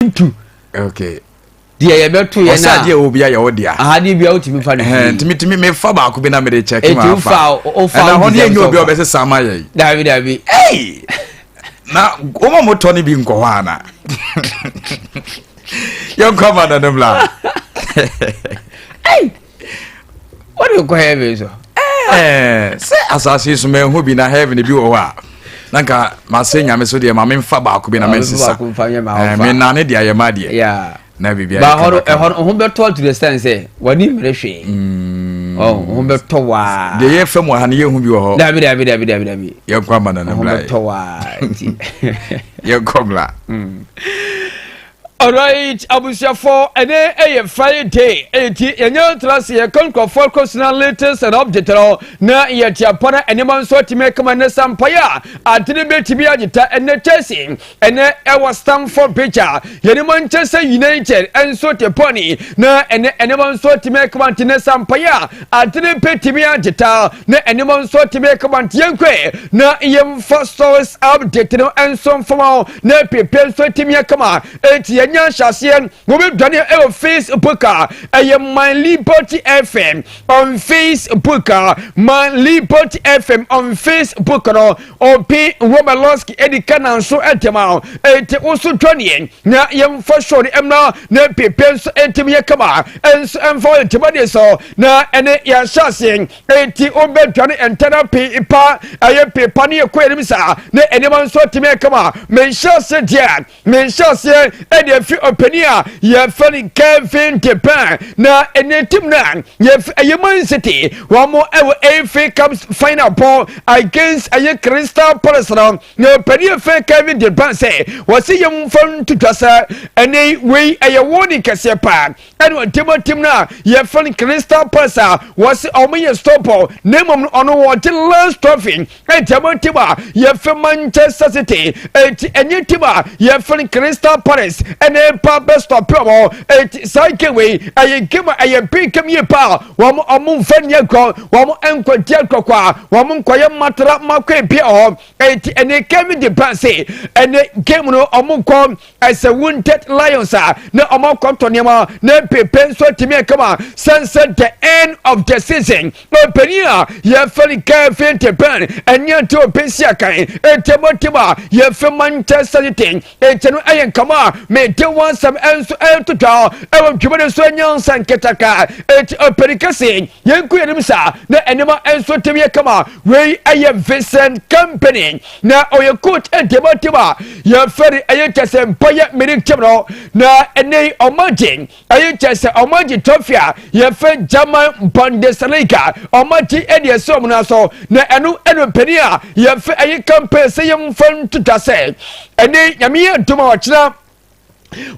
ntu. okay deɛ yɛbɛto yɛn a ɔsɛ adeɛ obi ayɛ wo dea aha deɛ bia wotumi fa no firi ntumi tumi mefa baako bi na mede kyɛ kima afa wofa wofa ɛna hɔ ne ɛnyɛ obi a ɔbɛsɛ saa ma yɛn dabi dabi ei na wɔn mo tɔ ne bi nkɔ hɔ ana yɛnkɔ ama no no mmla ei wode kɔ heaven so eh, sɛ asase so manhu bi na heaven bi wɔ hɔ a na nka masɛ nyame so deɛ ma memfa baako bi na mensesa eh, menane deɛ ayɛ ma deɛ na biribiaho bɛtɔ to the stand sɛ wani mmere hwee mm. ho bɛtɔ waa deɛ yɛfa mu aha no yɛhu bi wɔ hɔ dabi dabi dabi dabi dabi yɛnkɔ ama no no bra yɛnkɔ mmra Alright, abusuafo, ɛnɛ ɛyɛ Friday, eti yɛnyɛ ntra se yɛka nkurɔfoɔ kɔsena latest and update no na yɛte apa na nneɛma nso atumi akama ne sampaeɛ a adene bɛtumi agyeta ɛnɛ Chelsea ɛnɛ ɛwɔ Stamford Bridge a yɛne Manchester United nso te pɔne na ɛnɛ nneɛma nso atumi akama nti ne sampaeɛ a adene bɛtumi agyeta na nneɛma nso atumi akama nti yɛnkɔɛ na yɛmfa stories update no nso mfama na pepɛ nso tumi aka ma enti yɛnya nhyɛaseɛ wɔbɛdwane ɛwɔ facebook a ɛyɛ my liberty fm on facebook a my liberty fm on facebook no ɔpe romalowski ɛdi ka na nso ɛtɛma o enti wo so dwaneɛ na yɛmfa show no mmra na pepɛ nso ɛtumi aka ma ɛnso ɛmfa wo ntɛmɔdeɛ so na ɛne yɛahyɛaseɛ Enti wobɛdwane ntɛnɛm pee pa, ɛyɛ pee pa ne ɛkɔ anim saa, na nneɛma nso atumi ayɛ kama. Me nhyɛaseɛ deɛ, me nhyɛaseɛ ɛde ɛfiri ɔpanin a yɛfrɛ no Kevin de Bruyne, na ɛnɛ tim no a yɛfrɛ ɛyɛ Man City, wɔn ɛwɔ FA Cup final bɔ against ɛyɛ Crystal Palace no, na ɔpanin a fɛ Kevin de Bruyne sɛ wɔsi yɛn mfa nto dwa sɛ ɛnɛ wei ɛyɛ wɔn ne kɛseɛ paa. ɛne ɔtematem no a yɛfrɛ no crystal pass a wɔse ɔmo yɛ stopɔ na mmom no ɔno wɔgye last trophy ɛnti ɛmo tim a yɛfrɛ manchester city ɛnti ɛnyɛ tim a yɛfrɛ no crystal paris ɛne ɛpa bɛstɔpe ɔmo ɛnti saa game wei ɛyɛ game a ɛyɛ big game yie paa wɔn ɔmo nfa ni agorɔ wɔn nkɔgye agorɔkɔ a wɔn nkɔyɛ matara makɔ ebi ɔhɔ ɛnti ɛne kevin de brase ɛne game no ɔmo nkɔ ɛsɛ wounded lions a na wɔn akɔtɔ nneɛma na pepe nso atumi akama sɛn sɛ the end of the season ɔpanin a yɛfɛ no kevin de ben ɛne ante ɔpɛsi akan ɛtɛmɔtɛm a yɛfɛ manchester united ɛkyɛ no ɛyɛ nkama a mede wansɛm nso ɛto dwa ɛwɔ dwuma no so nyansa nketaka ɛti ɔpanin kɛse yɛnku yɛnim saa na ɛnema nso tumi akama wei ɛyɛ vincent company na ɔyɛ coach ntɛmɔ ntɛm a yɛfɛ no ɛyɛ kyɛ sɛ bayɛ mirik team no na ɛnɛ yi ɔmo agye ɛyɛ kyɛ sɛ ɔmo agye trophy a yɛfɛ german bundesliga ɔmo agye ɛne ɛsɛ ɔmo na so na ɛno ɛno mpanin a yɛfɛ ɛyɛ campaign sɛ yɛn fa ntuta sɛ ɛnɛ nyame yɛ dum a ɔkyena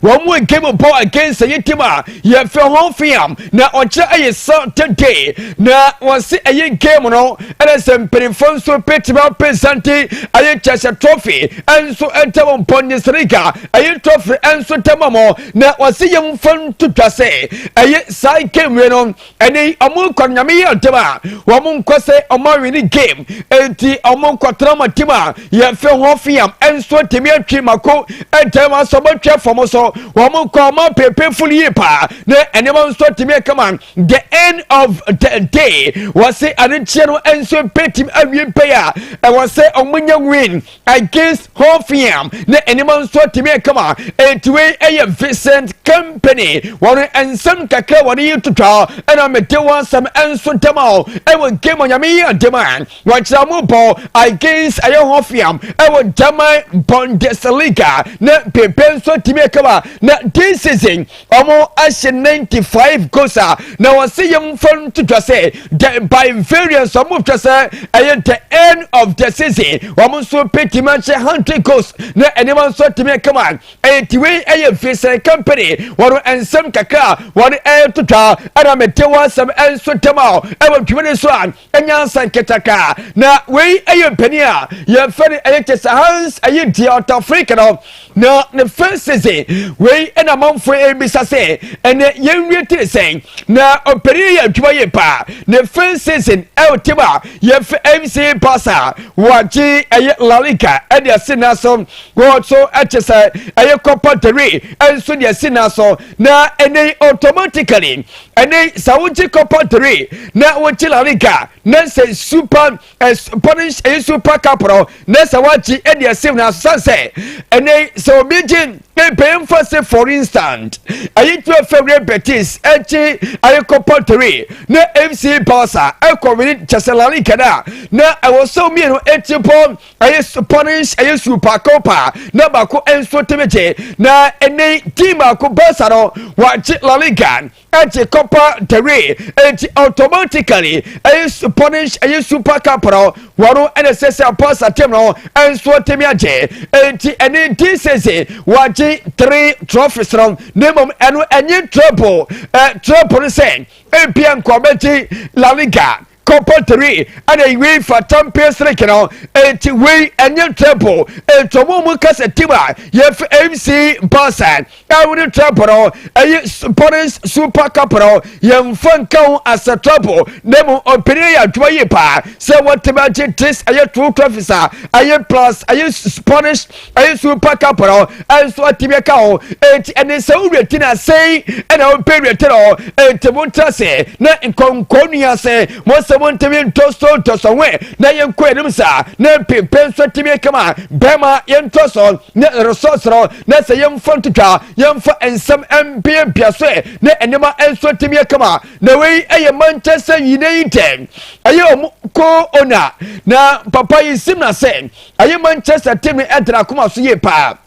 wɔn mu nkem mpo against ɛyɛ tim a yɛfrɛ ho fiam na ɔkyerɛ ɛyɛ saturday na wɔse ɛyɛ nkem no ɛna sɛ mpanimfoɔ nso bɛtumi apresente ɛyɛ kyɛsɛ trophy ɛnso ɛntam mpɔ ne serika ɛyɛ trophy ɛnso tɛma mɔ na wɔse yɛmfa nto dwa sɛ ɛyɛ saa game no ɛne ɔmo nkɔ nyame yɛ ɔdɛm a wɔn nkɔ sɛ ɔmo awi ne game eti ɔmo nkɔ tena ɔmo tim a yɛfɛ ho fiam nso tèmi atwi mako ɛdɛm asɔ ɔmo atwa fam so wɔn nkɔ ɔmo apepe fulu yie paa ne nneɛma nso tèmi ɛkama the end of the day wɔsi anigyeɛ no nso betim awie bɛyɛ a ɛwɔ sɛ ɔmo nya win against whole fiam na anim nso atumi akama enti wei ɛyɛ vincent company wɔn nsɛm kakra wɔn yi twitwa ɛna mede wɔn asɛm nso dɛm a ɛwɔ game onyame yi ade ma wɔkyerɛ mo bɔ against ɛyɛ whole fiam ɛwɔ german bundesliga na pepe nso atumi akama na this season wɔahyɛ 95 goals a na wɔsɛ yɛmfa nto dwa sɛ the by variance wɔtwa sɛ ɛyɛ the end of the season wɔn nso bɛtumi ahyɛ 100 goals na nneɛma nso atumi akama ɛyɛ tiwei ɛyɛ vincent company wɔn nsɛm kakra a wɔn ɛreto dwa ɛna mete wɔn asɛm nso dɛm a ɛwɔ dwumadi so a nyansa nketaka na wei ɛyɛ mpanin a yɛfɛ no ɛyɛ kyɛ sɛ hans ɛyɛ deɛ ɔtɔ afirika no na ne fɛ sese wei ɛna amanfo ɛbisa sɛ ɛnɛ yɛnwie tiri sɛn na ɔpanin yɛ adwuma yɛ paa ne fɛ sese ɛwɔ tim a yɛfɛ mc pasa wɔagye ɛyɛ lalika ɛde asi na so wɔso ɛkyɛ sɛ ɛyɛ kɔpa dere ɛnso de asi na so na ɛnɛ automatically ɛne sɛ wogye copa three na wogye la liga na sɛ super eh, spanish ɛyɛ eh, super cup no na sɛ wagye ɛde eh, ɛsɛ na asan sɛ ɛne sɛ obi gye ebɛn fa sɛ for instance ɛyɛ tura fɛwurɛ betis ɛgye ɛyɛ copa three na fc barca ɛkɔ wini kyɛsɛ la liga na na ɛwɔ sɛ mmienu eti pɔ. ɛyɛ spanish ɛyɛ super copa na baako nso tebe gye na ɛnɛ team baako barca no wɔagye la liga ɛgye copa del rey ɛnti automatically ɛyɛ spanish ɛyɛ super cup no wɔn ɛna ɛsɛ sɛ barca team no nso tebe agye ɛnti ɛnɛ this season wɔagye three trophies no na mmom ɛno ɛnye treble ɛ treble no sɛ ebia nkɔbɛgye la liga Copper three ɛna ewie fa champion siriki no eti wei ɛnyɛ treble eti ɔmo ɔmo kasa tim a yɛfɛ mc basa ɛwone treble no ɛyɛ paris super cup no yɛnfa nka ho asɛ treble na mu ɔpɛni yɛ adwuma yie paa sɛ wɔtɛmɛ agye this ɛyɛ two trophies a ɛyɛ plus ɛyɛ spanish nso pa ka pɔrɔ nso atibɛ ka hɔ enti ɛne sɛ wo werɛ ti na sɛn ɛna wopɛ werɛ tɛrɛ hɔ enti mo ntra sɛ na nkɔnkɔ nua sɛ mo sɛ mo ntɛmi ntɔsɔ ntɔsɔ wɛ na yɛnkɔ yɛnim saa na mpempɛ nso atibɛ kama bɛma yɛntɔsɔ na resɔsrɔ na sɛ yɛmfa ntotwa yɛmfa nsɛm mpeampea so ɛ na ɛnema nso atibɛ kama na wei ɛyɛ mankyɛ sɛ nyina yi ntɛm ɛyɛ ɔmo ko ona na papa yi sim na sɛ ɛyɛ manchester team no ɛdra akoma so yie paa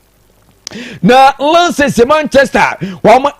na lances manchester wɔn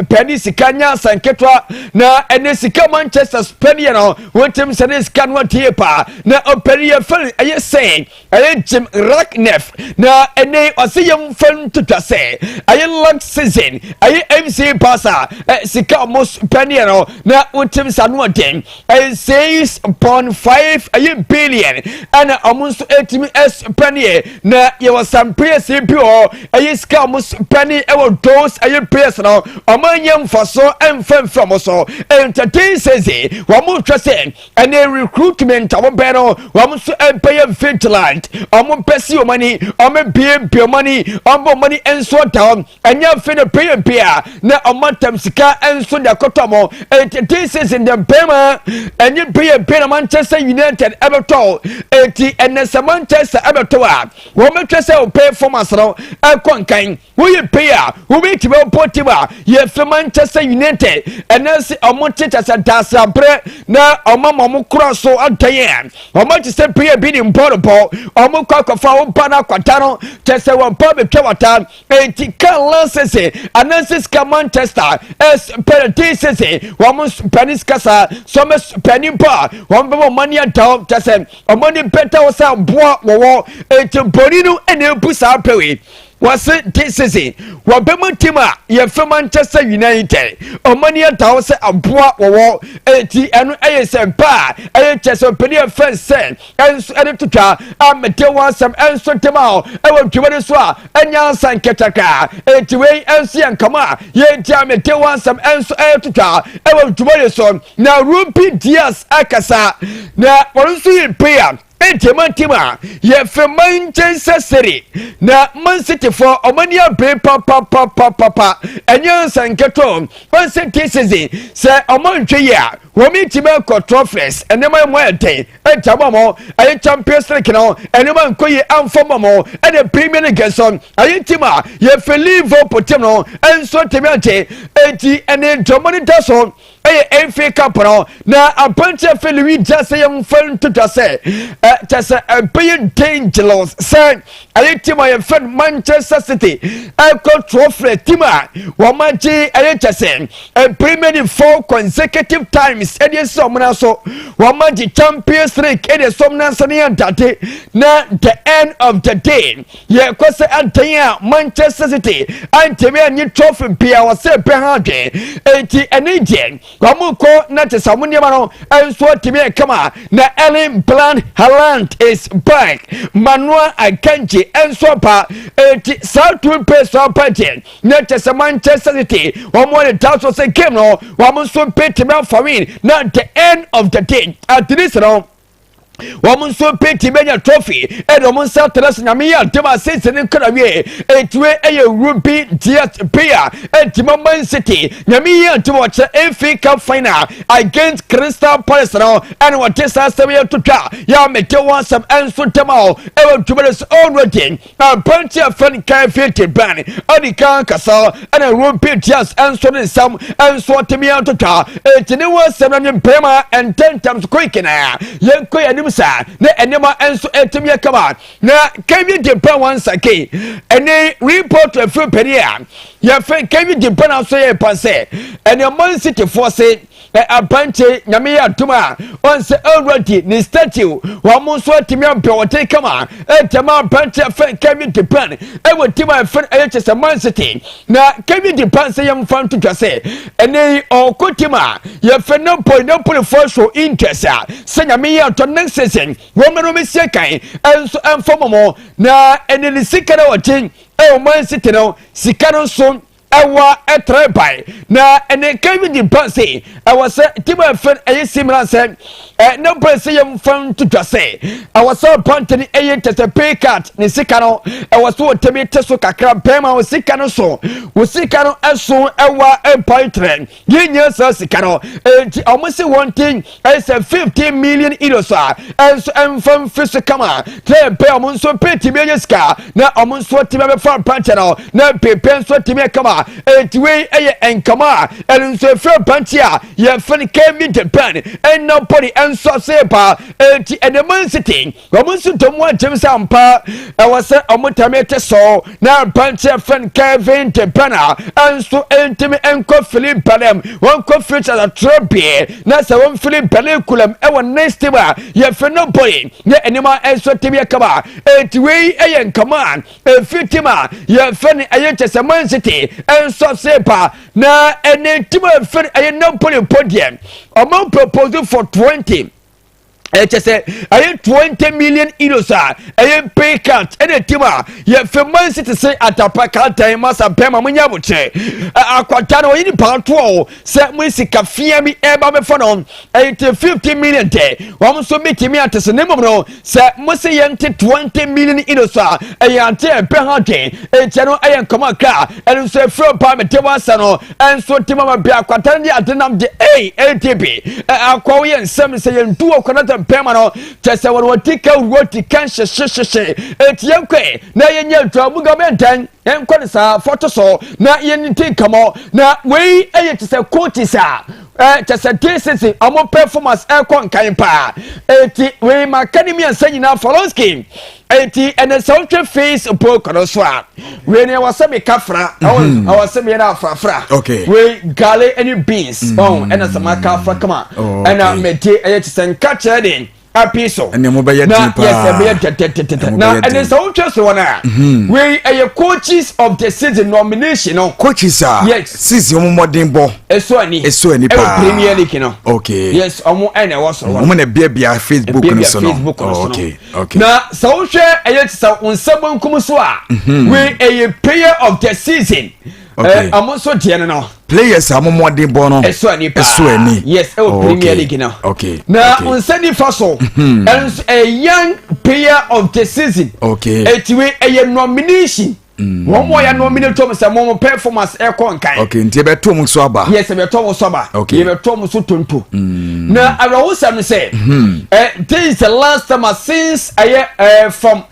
pɛni sika nya nketewa na ɛne sika manchester pɛni yɛ no wɔntɛm sɛ ne sika no adeɛ paa na ɔpɛni yɛ fɛn ɛyɛ sɛn ɛyɛ jim racknef na ɛne ɔsɛ yɛm fɛn twitwa sɛ ɛyɛ long season ɛyɛ mc pasa sika wɔn pɛni yɛ no na wɔntɛm sɛ ano ɔden It says upon five ɛyɛ billion ɛna wɔn nso ɛtumi ɛspɛneɛ na yɛwɔ some players bi wɔ ɛyɛ sika wɔn spɛne ɛwɔ those ɛyɛ players no wɔn anya mfaso ɛnfɛnfɛ wɔn so entertain says wɔn hwɛ sɛ ɛnɛ recruitment wɔn bɛn no wɔn nso ɛbɛyɛ vigilant wɔn bɛsi wɔn ani wɔn ebiebie wɔn ani wɔn bɔ wɔn ani nso da wɔn ɛnyɛ mfe ne pɛyɛ mpe a na ɔma ntam sika nso de akɔtɔ mo eti this season de mpɛma ɛnyɛ mpɛyɛ mpe na manchester united ɛbɛtɔ eti ɛnɛ sɛ manchester ɛbɛtɔ a wɔn bɛtwɛ sɛ wɔn pɛyɛ fɔmas no ɛkɔ nkan woyɛ mpɛyɛ a wobi ti bɛ wɔpɔ tim a yɛfɛ manchester united ɛnɛ sɛ wɔn te kyɛ sɛ daasirabrɛ na wɔn ama wɔn kora so adan yɛ wɔn akyi sɛ mpɛyɛ bi ne mpɔ ne pɔ wɔn kɔ akɔfa wɔn ba no akwata no kyɛ sɛ wɔn ba bɛtwa wata eti ka lansese ananse sika manchester ɛs pɛrɛ te sese wɔn pɛni sika saa so wɔn pɛni mpo a wɔn bɛma wɔn ani ada wɔn kyɛ sɛ wɔn ani bɛda wɔn sɛ boa wɔwɔ eti bɔnni no ɛna ebu saa pɛwe wɔse te sese wɔbɛma tim a yɛfɛ manchester united wɔn ani ada wɔn sɛ aboa wɔwɔ eti ɛno ɛyɛ sɛ paa ɛyɛ kyɛ sɛ pɛni ɛfɛ sɛ nso ɛde to dwa a mede ho asɛm nso de ma wo ɛwɔ dwuma no so a ɛnya nsa nkɛtɛka enti wei nso yɛ nkama a yɛdi a mede ho asɛm nso ɛto dwa ɛwɔ dwuma no so na ruby dias akasa na wɔn nso yɛ mpea ɛdi ma ntim a yɛfrɛ manchester city na man city fo ɔmani abere papapapapapa ɛnyɛ nsa nkɛtɔ ɔnsɛ di season sɛ ɔmo ntwe yɛ a wɔn mi ti bɛ kɔ trɔfɛs nneɛma yɛ mo ayɛ dɛn ɛnta bɔ mo ɛyɛ champions league no nneɛma nkɔ yie anfa bɔ mo ɛna premier league nso ɛyɛ ti ma yɛfɛ liverpool tim no nso tɛmi ante eti ɛne dɔm no da so ɛyɛ fa cup no na aberanteɛ fɛ lewi gya sɛ yɛmfa ntoto sɛ ɛ kyɛ sɛ ɛbɛyɛ dangerous sɛ ɛyɛ team a yɛfrɛ no manchester city ɛkɔ trɔfrɛ team a wɔagye ɛyɛ kyɛ sɛ mpirimani four consecutive times ɛde asi wɔn nan so wɔagye champions league ɛde asi wɔn nan so ne yɛ dade na the end of the day yɛkɔ sɛ adan a manchester city antɛmi anyi trɔfrɛ bia wɔsɛ ɛbɛ ha adwene eti ɛne deɛ Wɔn nkɔ na te sɛ wɔn nneɛma no nso tumi yɛ kama na Erling Bland Haaland is back Manuel Akanji nso aba eti saa tun pe so aba deɛ na kyɛ sɛ Manchester City wɔn wɔ ne da so sɛ game no wɔn nso betumi afa win na the end of the day at least no. wɔn nso penti bɛnya trophy ɛna wɔn nsa tena sɛ nyame yɛ adeɛ ma season no kra wie ɛtire ɛyɛ ruby diet beer ɛtima man city nyame yɛ adeɛ ma ɔkyerɛ efi cup final against crystal palace no ɛna wɔde saa asɛm yɛ to twa yɛ a mede wɔn asɛm ɛnso dɛm a ɛwɔ dwuma no so already Aberanteɛ a fɛn kan fete bɛn adi kan kasa ɛna Ruben Dias nso ne nsɛm nso atumi atotwa eti ne ho asɛm na ne bɛrima ntɛntɛm so koike na yɛnkɔ yɛn anim saa na nneɛma nso atumi akama na Kevin De Bruyne wɔn nsake ɛne report afiri panyin a yɛfɛ Kevin De Bruyne nso yɛ pa sɛ ɛne Man City foɔ se ɛ abankye nyame yɛ adom a ɔn sɛ already ne statue wɔn nso atumi abɛ ɔden kama ɛtɛma abankye fɛn kɛwi de ban ɛwɔ di ma ɛfɛn ɛyɛ kyɛ sɛ man sete na kɛwi de ban sɛ yɛn fa nto dwa sɛ ɛnɛ yi ɔko di ma yɛfɛ ne bɔ ne polifo so interest a sɛ nyame yɛ adom ne nsesɛn wɔn mmerɛ wɔn sie kan ɛnso ɛmfa mɔmɔ na ɛnɛ ne sika na ɔden ɛwɔ man sete no sika no nso Ɛwɔ ɛtrɛ bae na ɛne Kevin ba se ɛwɔ sɛ tim a ɛfɛn ɛyɛ si mmra sɛ ɛ na bɛ sɛ yɛm fan to dwa sɛ ɛwɔ sɛ ɔpante ne ɛyɛ kyɛ sɛ pay cut ne sika no ɛwɔ so ɔtɛmi te so kakra bɛrima wɔ sika no so wɔ sika no ɛso ɛwɔ ɛbae trɛ yɛnnya saa sika no enti ɔmo se wɔn ti ɛsɛ fifteen million euros a ɛnso ɛnfa mfi so kama tɛn pɛ ɔmo nso pɛ tumi ɛyɛ sika na ɔmo nso atumi abɛfa mpankyɛ no na pepe nso atumi ɛkama enti wei ɛyɛ nkama a ɛno nso efiri mpankyɛ a yɛfɛn kemi japan ɛnna pɔli ɛnso ase paa enti ɛnɛman city Wɔn nso dɔ mu agyem sɛ ampa ɛwɔ sɛ wɔn tam yɛ te so na aberanteɛ fɛn Kevin de Bɛna nso ntumi nkɔ fili Bɛlɛm wɔnkɔ firi kyɛkyɛkyerɛ bie na sɛ wɔn fili Bɛlɛ kulam ɛwɔ next time a yɛfɛ no bɔyi ne nneɛma nso tim yɛ kama eti wei ɛyɛ nkama efi tim a yɛfɛ no ɛyɛ kyɛ sɛ man city nso se ba na ɛne tim a ɛfɛ no ɛyɛ nabɔli mpɔ deɛ wɔn propose for twenty ɛkyɛ sɛ ɛyɛ twenty million euros a ɛyɛ mpay card ɛna tim a yɛfɛ man city sɛ atapa kantan masa pɛ ma monyɛ abokyerɛ akwata no ɔyɛ nipa atoɔ sɛ mo sika fia bi ɛba bɛfa no ɛyɛ te fifty million tɛ wɔn nso bɛtumi ate sɛ ne mmom no sɛ mo se yɛnte twenty million euros a ɛyɛ ante ɛpɛ ha dwen ɛkyɛ no ɛyɛ nkɔmɔ kra ɛno nso ɛfiri paa mete wasa no Nso nti mama bia kwatan de ade nam de ei ADB eh, akɔ wo yɛ nsɛm sɛ yɛn du wɔ kɔnɔ tɛm pɛn ma no kyɛ sɛ wɔn wɔn ti kɛ wuro ti kɛ nhyehye hyehye eti yɛn kɔ na yɛn nyɛ adwa mu gama ntɛn yɛn kɔ ne saa fɔto so na yɛn ti nkamɔ na wei ɛyɛ kyɛ sɛ kooti saa ɛɛ kyɛ sɛ DCC wɔn pɛfɔmas ɛkɔ nkan paa eti wei ma kɛ ne mmiɛnsa nyinaa fɔlɔnski. eti ɛnɛ sɛ wotwe face book no so a wei ni ɛwɔ sɛ meka fra mhm. ɛwɔ sɛ meyɛ no afrafra wei gale ne beans mhm. ɔn ɛna sɛ maka afra kama oh, ɛna mede ɛyɛ te sɛ nka kyerɛ de api so na yɛ sɛ bɛyɛ tɛtɛtɛtɛ na ɛne sɛ wotwa so wɔn a mhm. wei ɛyɛ coaches of the season nomination no coaches a yes season wɔn mmɔden bɔ ɛso ani ɛso ani paa ɛwɔ premier league no okay yes wɔn ɛna ɛwɔ so wɔn na biabia facebook no so no facebook no so no Okay. Na sɛ wohwɛ ɛyɛ te sɛ wo nsa bonkum so a mhm. we ɛyɛ player of the season. Okay. Ɔmo eh, nso deɛ no no. Players a mɔmɔden bɔ no. Ɛso ani paa. Ɛso ani. Yes ɛwɔ oh, Premier League no. Okay. Na okay. nsa nifa so. Mhm. Ɛnso ɛyɛ eh, young player of the season. Okay. Etiwe ɛyɛ eh, nomination. wɔn mu ɔyɛ no mine tom sɛ mo performance ɛkɔ nkan. ok nti ɛbɛtɔ mu so aba. yes ɛbɛtɔ mu so aba. ok yɛbɛtɔ mu so tonto. Mm. na awerɛhosɛm no sɛ. Hmm. Eh, this is the last time ah, since ɛyɛ eh, uh, eh, from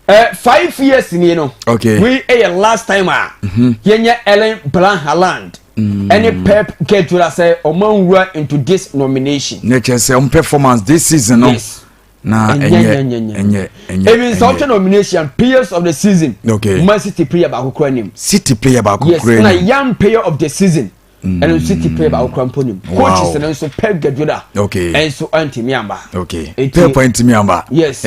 uh, five years ni no. ok we ɛyɛ uh, last time a. Ah, mm-hmm. yɛnyɛ Ellen Blanc Haaland. Mm. ɛne mm. pep kɛtura sɛ ɔma nwura into this nomination. ne kyɛ sɛ ɔmo performance this season no. yes. na ɛnyɛ ɛnyɛ ɛnyɛ even sɛ ɔtwɛ nomination players of the season okay man city player baako kura nim city player baako kura nim yes na young player of the season mm. ɛno nso city player baako kura mpo nim coaches no nso pep guardiola okay ɛnso ɛntumi amba okay pep ɛntumi amba yes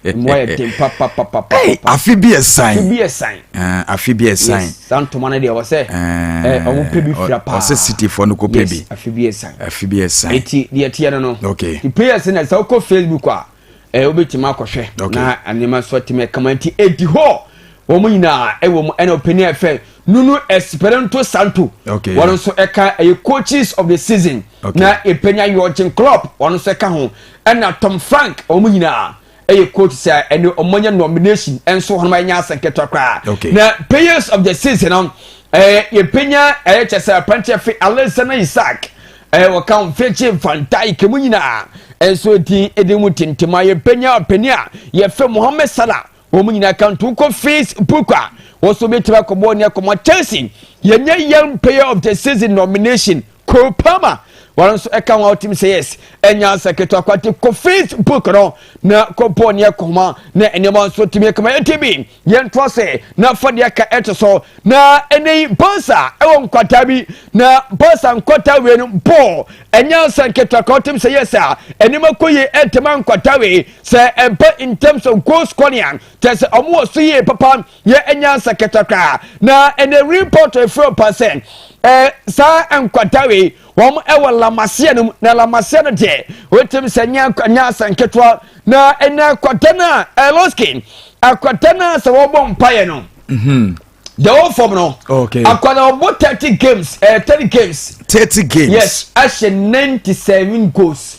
mmoa yɛ den papapapapa afe bi ɛsan afe bi ɛsan afe bi ɛsan Saa ntoma no deɛ wɔsɛ eh, wɔn pɛ bi fira paa. Wɔsɛ sitifoɔ no kɔ pɛ bi. Yes, afi bi esan. Afi bi esan. Eti deɛ teɛ no no. Okay. Ti pay ɛsɛ na sɛ wokɔ Facebook a, ɛɛ wobɛtumi akɔhwɛ. Okay. Na nneɛma nso atumi ɛkama nti edi hɔ. Wɔn nyinaa ɛwɔ mu ɛna ɔpɛni ɛfɛ Nunu Esperanto Santo. Okay. Wɔn nso ɛka ɛyɛ coaches of the season. Okay. Na ɛpɛnya Jurgen Klopp wɔn nso ɛka ho ɛna Tom Frank wɔn nyinaa. ɛyɛ quote sɛ ɛne wɔn anya nomination nso wɔn anya asɛ nketewa koraa na players of the season no ɛɛ yɛpɛnya ɛyɛ kyɛ sɛ apranteɛ fi alexander isaac ɛɛ wɔka wɔn fekye van dijk mu nyinaa nso din ɛdi mu tintim a yɛpɛnya ɔpɛni a yɛfɛ mohammed salah wɔn nyinaa kan to kɔ face book a wɔn nso bɛtumi akɔbɔ ne akɔmɔ chelsea yɛnyɛ young player of the season nomination Cole Palmer wɔn nso ɛka ho a wɔtumi sɛ yes ɛnya asa ketewa kwate kɔ facebook no na kɔbɔ ne ɛkɔma na nneɛma nso tumi ɛkɔma ɛti bi yɛn to ase na fa deɛ ka ɛto so na ɛnɛ yi bɔnsa ɛwɔ nkwataa bi na bɔnsa nkwataa wei no bɔɔ ɛnya asa ketewa ka wɔtumi sɛ yes a nneɛma kɔ yie ɛtɛma nkwataa wei sɛ ɛba in terms of goal scoring kyɛ sɛ wɔn wɔ so yie papa yɛ anya nsɛkɛtɛ koraa na ɛnɛ report efiri ɔpa sɛ ɛɛ saa nkwadaa wei wɔn ɛwɔ lamaseɛ no mu na lamaseɛ no deɛ wotumi sɛ nya nya asɛ nketewa na ɛnɛ akwadaa no a ɛlɔski akwadaa no a sɛ wɔbɔ mpaeɛ no. Mhm. the whole form no okay. akwadaa ɔbɔ thirty games ɛɛ eh, thirty games. thirty games yes ahyɛ ninety seven goals.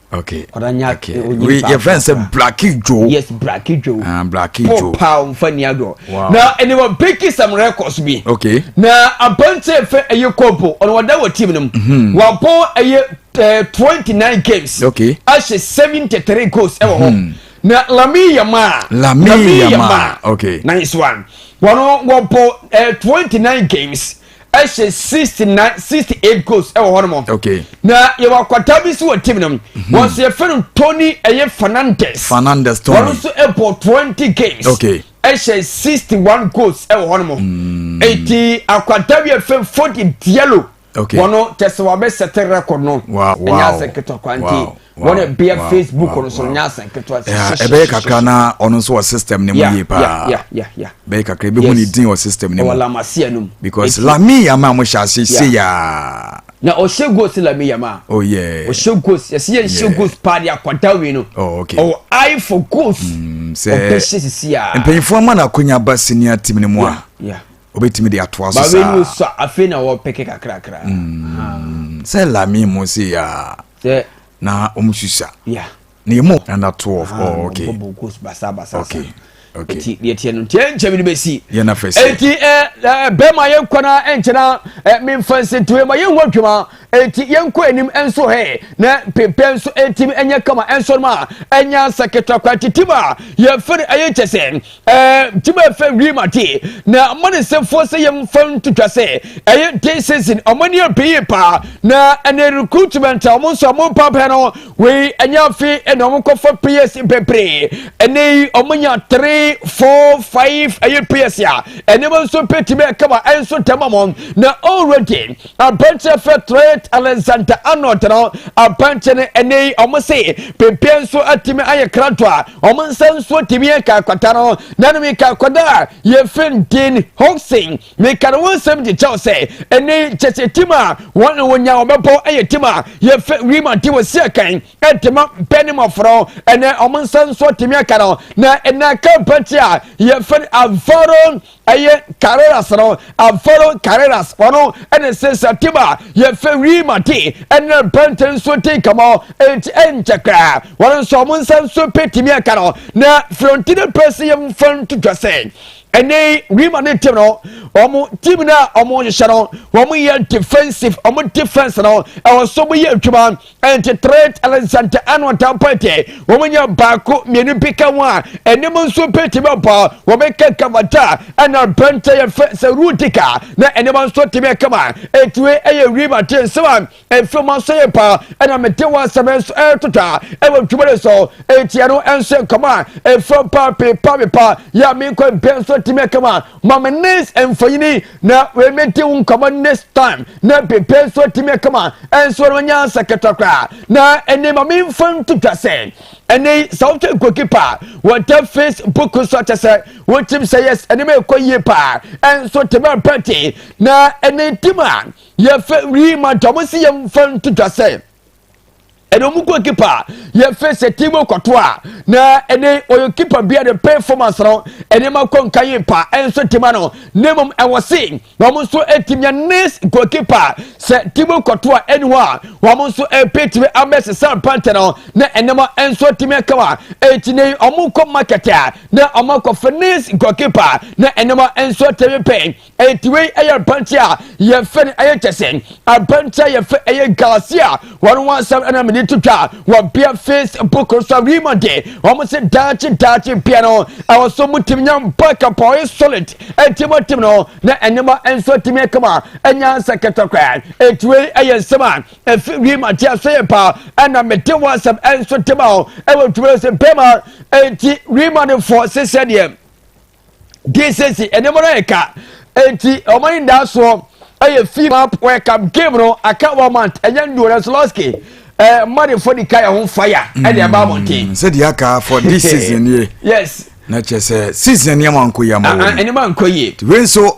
Okay. Ɔdanya okay. onye we your friend said Blacky Joe. Yes, Blacky Joe. Uh, ah, Blacky Joe. Joe. Pow mfani ado. Wow. Na ɛne wɔ Becky some records bi. Okay. Na abante fɛ ɛyɛ kɔmpo ɔno wɔda wɔ team no mu. Mhm. Wabɔ ɛyɛ eh, twenty nine games. Okay. Ahyɛ seventy three goals ɛwɔ hɔ. Hmm. Na Lami Yama. Lami Yama. Okay. Nice one. Wɔn wɔbɔ eh, twenty nine games. ɛhyɛ sixty nine sixty eight goals ɛwɔ hɔ nom. okay na yɛ wɔ akwadaa bi si wɔ team nom. Mhm. wɔn so yɛ fɛ no tony ɛyɛ fernandez. fernandez tony wɔn nso ɛbɔ twenty games. okay ɛhyɛ sixty one goals ɛwɔ hɔ nom. Mm. eti akwadaa bi yɛ fɛ fodi diallo. okay wɔn tɛsɛ wɔn abɛ sɛte record no. wow wow ɛnyɛ asɛ ketekwa nti. wɔn bea facebook no so nyɛ asɛn ketewa ɛbɛyɛ kakra na ɔno nso wɔ system ne mu yie paa bɛyɛ kakra ɛbɛhu ne din wɔ system ne mu because lame yama mo hyɛ ase se yaa na ɔhyɛ ghost lame yama oh yeah ɔhyɛ ghost yɛsɛ yɛ nhyɛ ghost paa de akɔda wei no oh okay ɔwɔ eye for ghost mm, sɛ ɔbɛhyɛ sisi yaa mpanyinfoɔ ama no akonya ba senior team ne mu a obetumi de atoa so saa baabi nso afei na wɔpɛkɛ kakrakra mm. sɛ lami mu se ya na wɔn susa na emu ɛna to of ah, oh okay okay nti deɛ tiɛ no nti ɛnkyɛ bi de bɛsi nti bɛrima yɛnkɔ na ɛnkyɛna memfa nsɛntoɛ ma yɛnhu adwuma nti yɛnkɔ anim nso hɛ na pempɛ nso ɛtim ɛnyɛ kama ɛnsɔ no ma ɛnya nsaketra kwa nti tim a yɛfiri ɛyɛ kyɛ sɛ nti mo ɛfɛ wie ma te na mo ne sɛfoɔ sɛ yɛm fa ntotwa sɛ ɛyɛ day season ɔmo ani abɛyi paa na ɛnɛ recruitment a ɔmo nso ɔmo mpapɛ no wei ɛnyɛ afe ɛna ɔmo kɔfa players bebree ɛnɛ yi ɔmo nya three four five ɛyɛ players a ɛnɛma nso pɛtumi ɛkama ɛnso tɛma mo na already Aberanteɛ fɛ Trent Alexander-Arnold no aberanteɛ no ɛnɛ yi wɔn se pepeɛ nso atumi ayɛ kranto a wɔn nsa nso tumi yɛ kakwata no na no mi kakwada a yɛfin Dean Hodgson meka no ho nsɛm de kyɛw sɛ ɛnɛ yi kyɛ sɛ tim a wɔn na wɔnya wɔbɛbɔ ɛyɛ tim a yɛfɛ Riemann te wɔ si akan ɛtema bɛn ne mɔforo ɛnɛ wɔn nsa nso tumi aka no na ɛnɛ aka aberanteɛ a yɛfɛ Alvaro ɛyɛ carreras no alvaro carreras ɔno ɛne sɛ satima yɛfɛ wii mate ɛnɛ bɛnte nso te nkɛmɔ ɛnti ɛnkyɛ koraa wɔn nso ɔmo nsa nso bɛtumi aka no na florentino perez yɛ mfa ntotwa sɛ ɛnɛ wii ma ne tim no ɔmo tim no a ɔmo hyehyɛ no ɔmo yɛ defensive ɔmo defense no ɛwɔ so mo yɛ adwuma ɛnti tret nsɛntɛ ɛna ɔtam pɛtɛ wɔn nyɛ baako mmienu bi ka ho a ɛnim nso bɛtumi ɔbɔ wɔn ka kamata ɛna bɛntɛ yɛ fɛ sɛ rutika na ɛnim nso tumi ɛkama ɛtue ɛyɛ wi ma te nsɛm a ɛfiri mu nso yɛ pa ɛna mete wɔ asɛm nso ɛtotwa ɛwɔ dwuma no so ɛtia no ɛnso nkɔmɔ a ɛfiri pa pepa pepa yɛ a menkɔ mbɛ nso tumi ɛkama Ma me nnes mfonyini na medi wo nkɔmmɔ next time na pepe nso atumi akama nso no nya nsa ketewa koraa na ɛne ma memfa nto dwa sɛ ɛne sɛ wohwɛ goalkeeper wɔ the face book so akyɛ sɛ wotim sɛ yes ɛne ma ɛkɔ yie paa ɛnso te ma pɛte na ɛne tim a yɛfɛ wii ma dɔm si yɛmfa nto dwa sɛ ɛna ɔmo kɔ kipa a yɛfɛ sɛ tiimu kɔto a na ɛne ɔyɛ kipa bia ne performance no nneɛma kɔ nka yie pa ɛnso tima no na mmom ɛwɔ se na ɔmo nso ɛtumi anes goalkeeper sɛ tiimu kɔto a ɛne hɔ a wɔn nso ɛpɛtumi abɛsesa pantɛ no na nneɛma ɛnso ɛtumi ɛka wa ɛti ne ɔmo kɔ market a na ɔmo akɔfɛ nes goalkeeper na nneɛma ɛnso ɛtumi pɛn Enti wei ɛyɛ abante a yɛfɛ no ɛyɛ kyɛ sɛ abante a yɛfɛ ɛyɛ gaase a wɔn ho asɛm ɛna mede to dwa wɔ bea facebook so rima de wɔn se daakye daakye bea no ɛwɔ so mu tim nyam baka pɔe solid enti mo tim no na ɛnema nso atumi akama ɛnya nsɛ kɛtɛkora enti wei ɛyɛ nsɛm a ɛfi rima de aso yɛ paa ɛna mede wɔ asɛm ɛnso tema o ɛwɔ dwuma sɛ bɛma enti rima no fɔ sesɛ deɛ de siesie nneɛma no ayɛ ka enti wɔn ani da soɔ ɛyɛ fii map wɔyɛ cup game no aka one month ɛnyɛ nduo na solosky ɛɛ mmadefo de ka yɛn ho fire ɛde ɛba abɔnten. sɛdeɛ aka for this season yɛ yes na kyerɛ sɛ season nneɛma nkɔ yie ama wɔn nneɛma nkɔ yie wei nso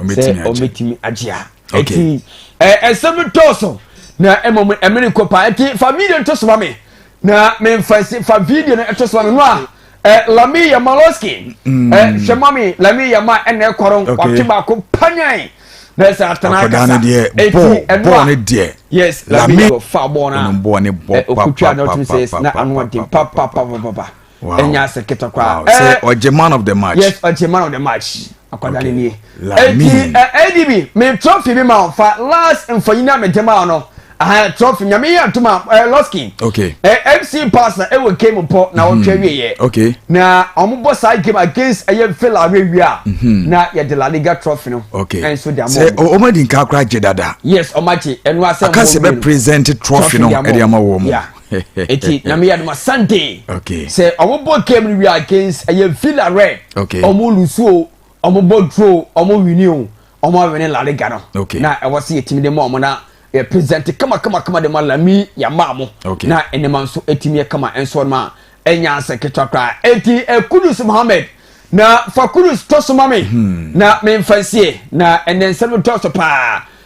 sɛ ɔbɛtumi agye a ɛti ɛsɛm tɔɔ so na mmom ɛmene kɔ paa ɛti fa video no to soma me na memfa si fa video no to soma me no a eh, lami yama loski mm. eh, hwɛ ma me lami yama ɛna ɛkɔrɔ ɔte baako panyan na ɛsɛ atena kasa ɛti ɛno a yes lami yama fa bɔɔ no a ɔkutwa na ɔtumi sɛ na ano ɔden papapapapa ɛnya ase ketekwa. wow sɛ ɔgye man of the match. yes ɔgye man of the match akwadaa ne nie eti adb me trophy bi ma ɔfa last mfonyin a mede ma ɔno ahan trophy nyame yɛ atum a ɛɛ lɔski okay ɛɛ fc pasa ɛwɔ game pɔ na ɔtwa wie yɛ okay na wɔn bɔ saa game against ɛyɛ villa awɛ wie a na yɛ de la liga trophy no okay ɛnso de ama sɛ wɔn wɔn adi nka akora gye dada yes wɔn agye ɛnu asɛm wɔn akasi bɛ present trophy no ɛde ama wɔn yeah eti nyame yɛ adoma sunday sɛ ɔmo bɔ game no wia against ɛyɛ villa rɛ ɔmo lusu o ɔmo bɔ duro o ɔmo wini o ɔmo awini la liga no na ɛwɔ sɛ yɛtumi de ma ɔmo na yɛ present kama kama kama de ma lami yɛma ɔmo na nneɛma nso ɛtumi yɛ kama nso ɔmo a ɛnya nsɛ ketewa koraa eti ɛkudus eh, mohammed na fa kudus tɔ so ma me hmm. na memfa nsie na ɛnɛ nsɛm dɔɔso paa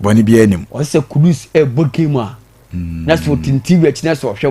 bɔne biara nnim. Ɔsɛ sɛ Kudus rebɔ game a, na sɛ ɔtintim wia akyi na sɛ ɔhwɛ bɔɔl.